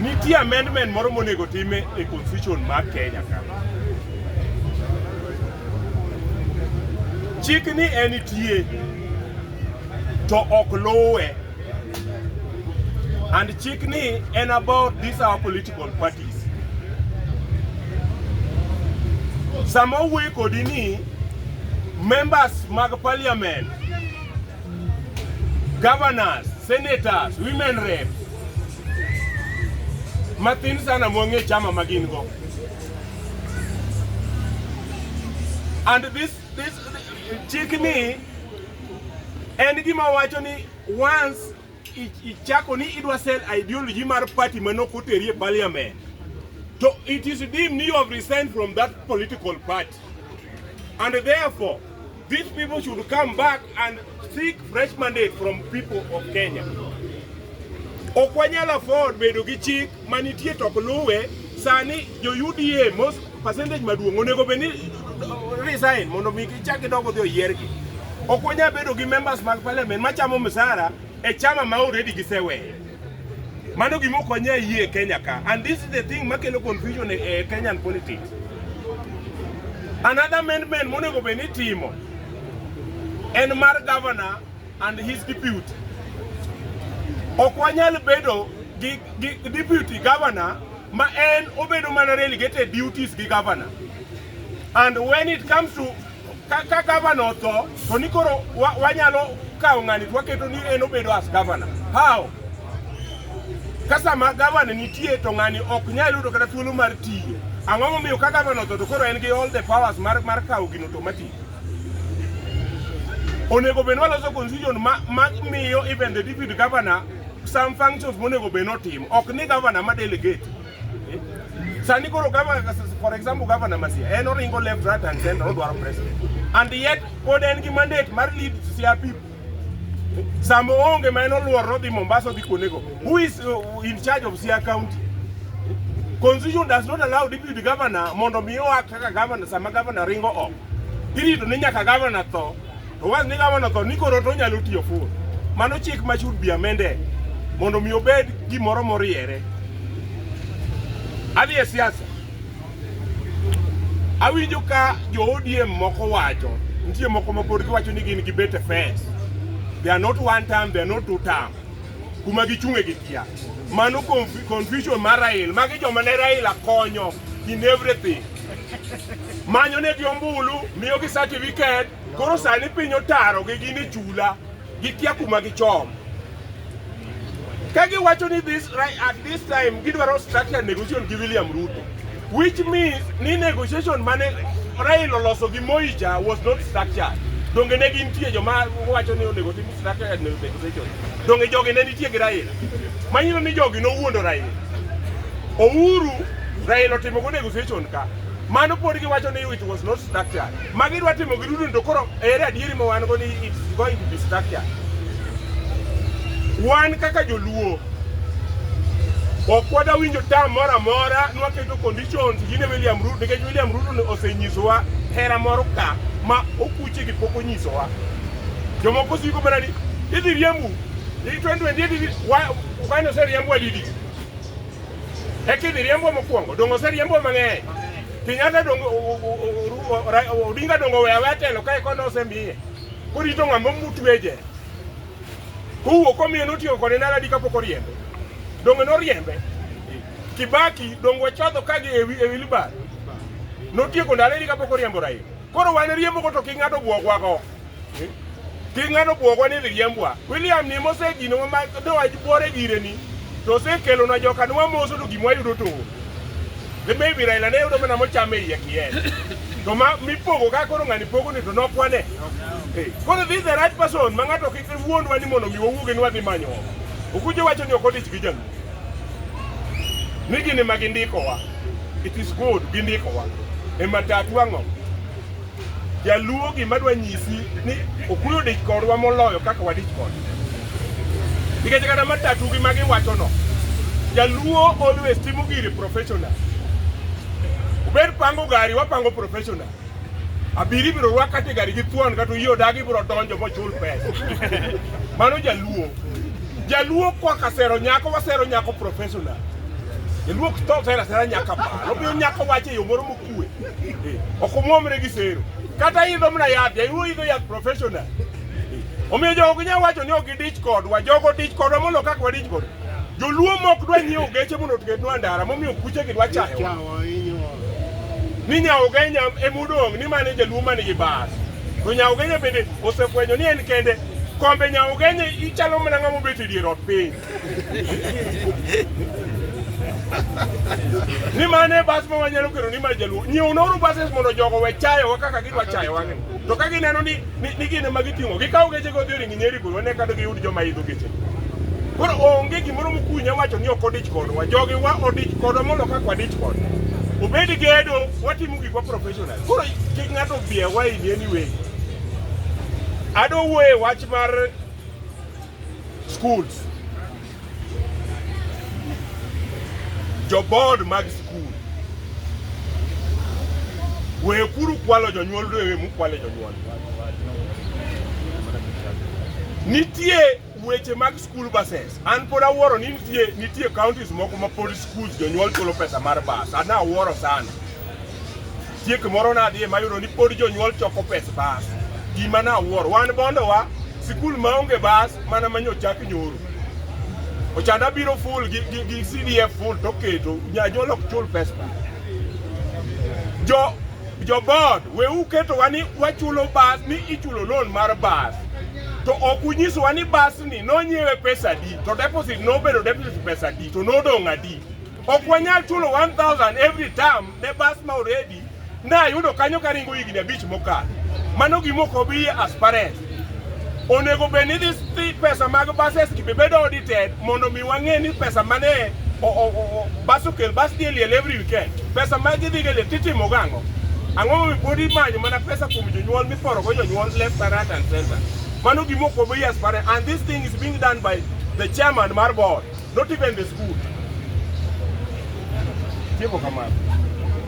Nitie amendment moro monego time e constitution mar Kenya ka. Chik ni en tie to ok luwe. And chik ni en about these our political parties. Sama owuoyo kodi ni members mag parliament governors, senators, women rep. Mathin sana mwang'e chama magin go. And this this chik ni en gima wacho ni once ichako ni idwa sell ideology mar party manok oteri e parliament to it is deemed you have resigned from that political party and therefore These people should come back and seek fresh mandate from people of Kenya. Ok wanyal afford bedo gi chik manitie to ok luwe. Sani jo UDA most percentage maduong' onego bed ni uh, resign mondo mi gichak gidog odhi oyiergi. Ok wanyal bedo gi members mag parliament machamo msara e chama ma already giseweyo. Mano gima okonye ayie e Kenya ka. And this is the thing makelo confusion e, e Kenyan politics. Another amendment monego bed ni timo en mar governor and his deputy. Ok wanyal bedo gi, gi deputy governor ma en obedo mana relegated duties gi governor. And when it comes to Ka gavana otho to ni koro wanyalo kawo ng'ani to waketo ni en obedo as gavana. How? Ka sama gavana nitie to ng'ani ok nyal yudo kata thuolo mar tiyo. Ang'o momiyo ka gavana otho to koro en gi all the powers mar mar kawo gino automatic? Onego bed waloso constitution ma ma miyo even the deputy governor some functions monego bed notimo. Ok ni gavana ma delegate. Eh? Sani koro gava, for example, governor Masia, en oringo left, right and center, odwaro president. And yet, pod en gi mandate mar lead CRP. Eh? Sama onge ma en oluor rodhi Mombasa odhi kuonego. Who is uh, in charge of Siaya County? Eh? Constitution does not allow deputy governor mondo mi oa kaka governor sama governor ringo oko. Irito ni nyaka governor tho Owas ni gavana tho ni koro to onyalo tiyo full. Mano chik ma should be amended mondo mi obed gimoro moriere. Adhi e siasa. Awinjo ka jo ODM moko wacho, nitie moko ma pod giwacho ni gin gibet e fence. They are not one term, they are not two term. Kuma gichung' e gikia. Mano conf- confusion mar Raila. Magi joma ne Raila konyo in everything. Manyo ne gi ombulu, miyo gi certificate, Koro sani piny otarogi gin e chula, gikia kuma gichom. Ka giwacho ni this right at this time gidwaro structure negotiation gi William Ruto, which means ni negotiation mane Raila oloso gi Moi cha was not structured. Donge ne gintie joma wacho ni onego tim structured negotiation. Donge jogi ne nitie gi Raila. Manyiso ni jogi nowuondo Raila. Ouru Raila otimo go negotiation ka. Mano pod giwacho ni it was not structured. ma gidwa timo gi dudu to koro ere adieri ma wan go ni it's going to be structure wan kaka joluo ok wada winjo tam moro amora nwaketo conditions gine William Ruto nikech William Ruto osenyisowa hera moro ka ma okuche gi pok onyisowa jomoko siko mana ni idhi riembu i 2020 ukane oseriembu adidi eka idhi riembu mokwongo donge oseriembu mang'eny Kenyatta dongo Odinga dongo oweyo aweya telo kae kone osemiye korito ng'ama mutwe je kowuok omiyo notiyo kode naladi kapok oriembe donge noriembe Kibaki dongo chodho kagi e wilbar notieko ndalo eri kapok oriembo Raila koro wan riembo go to king'ado bwogwago Kik ng'ano bwogwa ni riembwa. William ni mosejino ma ne wach bwore gire ni to osekelo na joka nwa moso to gimwa yudo to. Ne maybe Raila ne yudo mana mochame iye kiyen. To ma mipogo ka koro ng'ani pogo ni to nokwane. Koro this is the right person ma ng'ato kik wuondwa ni mondo mi wawuoge ni wadhi manyo. Okujo wacho ni ok odich gi jaluo. Ni gini ma gindikowa. It is good gindikowa. E matatu ang'o? Jaluo gima dwa nyisi ni okuyo dich kodwa moloyo kaka wadich kode. Nikech kata matatu gi magi wacho no. Jaluo always timo giri professional. Ubed pango gari wapango professional. Abiri ibiro rwak kata e gari gi thuon kata oyie odagi ibiro donjo mochul pesa. Mano jaluo. Jaluo kwa kasero nyako wasero nyako professional. Jaluo ok tho sera sera nyaka baa. Omiyo nyako wacho e yo moro mok- kwe okumwomre gi sero kata idho mna yath jaiwo idho yath professional omiyo jogo nya wacho ni ok gidich kodwa jogo dich kodwa mondo kaka wadich kodwa joluo mok dwa nyiewo geche mondo otugetnwa ndara momiyo kuche gi dwa chayo ni nyaogenya emodong' ni mane jaluo mane gi bas to nyaogenya bende osefwenyo ni en kende kombe nyaogenya ichalo mana ng'ama obet e dier ot piny ni mane bas ma wanyalo kero ni mar jaluo nyiew noru bases mondo jogo we chayowa kaka gidwa chayowa ni to ka gineno ni ni gine ma giting'o gikawo geche go dhiori gi nyeri goro ne kado giyud joma idho geche koro onge gimoro mokunya wacho ni ok odich kodwa jogi wa odich kodwa mondo kaka wadich kodwa obed gedo watimo gikwa professional koro kik ng'ato biewa in anyway adowuoye wach mar Schools. Jo board mag school. Wekuru kwalo jonyuol rewe mukwale jonyuol. Nitie weche mag school buses. An pod awuoro ni nitie nitie counties moko ma pod schools jonyuol chulo pesa mar bus. Ana awuoro sana. Chiek moro nadhie mayudo ni pod jonyuol choko pes bas. Gima nawuoro, wan bondowa sikul maonge bas mana manyo chak nyoro. Ochada biro full gi, gi, gi CDF full to keto janyuol ok chul pes bas. Jo jo board we uketowa ni wachulo bas ni ichulo loan mar bas to ok unyisowa ni bas ni nonyiewe pesa di to deposit nobedo deposit pesa di to nodong' adi Ok wanyal chulo 1000 every term ne bus ma already nayudo kanyo karingo higni abich mokalo. Mano gima ok obi as parents. Onego bed ni this pesa mag buses gi bedo audited mondo mi wang'e ni pesa mane bus okel bus dhi liel every weekend. Pesa ma gidhi ga liel titimo gang'o? Ang'o momiyo pod imanyo mana pesa kuom jonyuol miporo go jonyuol left and right and center. Mano gima ok obi as parents and this thing is being done by the chairman mar board. Not even the school. Tieko kamano.